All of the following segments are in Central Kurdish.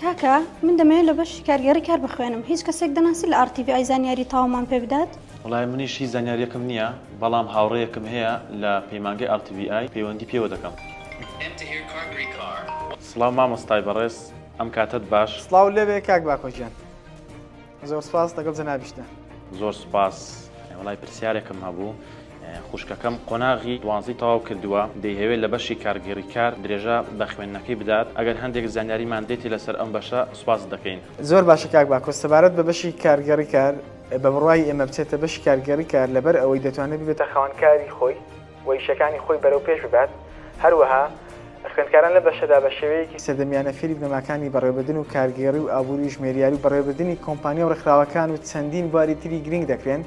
کاکە من دەمەوێت لە بەشی کارگێڕی کار بخوێنم هیچ کەسێک دەناسی لە ئارتیڤ ئای زانیاری تاومان پێ بدات وەڵای منیش هیچ زانیاریەکم نییە بەڵام هاوڕێیەکم هەیە لە پەیمانگەی ئارتیڤی ئای پەیوەندی پێوە دەکەم. سڵاو مامۆستای بەڕێز ئەم کاتەت باش. سڵاو لێبێ کاک باکۆ گیان. زۆر سپاس لەگەڵ جەنابیشتە. زۆر سپاس وڵای پرسیارێکم هەبوو خوشکەکەم قۆناغی دوانزی تەواو کردووە دەیهەوێت لە بەشی کارگێڕی کار درێژە بە خوێندنەکەی بدات ئەگەر هەندێک زانیاریمان دێتی لەسەر ئەم بەشە سپاست دەکەین. زۆر باشە کاک باکۆس سەبارەت بە بەشی کارگێڕی کار بە بڕوای ئێمە بچێتە بەشی کارگێڕی کار لەبەر ئەوەی دەتوانێت ببێتە خاوەن کاری خۆی، و ئیشەکانی خۆی بەرەو پێش ببات، هەروەها خوێندکاران لەم بەشەدا بە شێوەیەکی سەردەمیانە فێری بنەماکانی بەڕێوەبردن و کارگێڕی و ئابووری و ژمێریاری و بەڕێوەبردنی کۆمپانیا و ڕێکخراوەکان و چەندین بواری تری گرنگ دەکرێن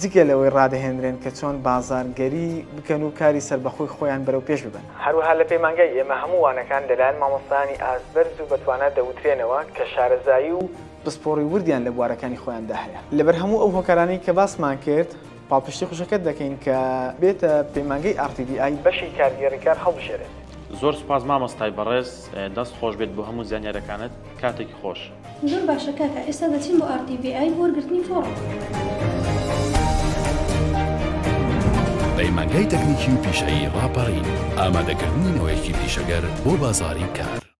جگە لەوەی ڕادەهێنرێن کە چۆن بازاڕگەری بکەن و کاری سەربەخۆی خۆیان بەرەو پێش ببەن. هەروەها لە پەیمانگای ئێمە هەموو وانەکان لەلایەن مامۆستایانی ئاست بەرز و بەتوانا دەوترێنەوە کە شارەزایی و پسپۆڕی وردیان لە بوارەکانی خۆیاندا هەیە. لەبەر هەموو ئەو هۆکارانەی کە باسمان کرد، پاڵپشتی خوشکەکەت دەکەین کە بێتە پەیمانگەی RTDI. بەشی کارگێڕی کار هەڵبژێرێت. زۆر سوپاس مامۆستای بەڕێز دەست خۆش بێت بۆ هەموو زانیارەکانت کاتێکی خۆش. زۆر باشە کاکە ئێستا دەچین بۆ RTDI بۆ وەرگرتنی فۆڕم. پەیمانگای تەکنیکی و پیشەیی ڕاپەڕین، ئامادەکردنی نەوەیەکی پیشەگەر بۆ بازاڕی کار.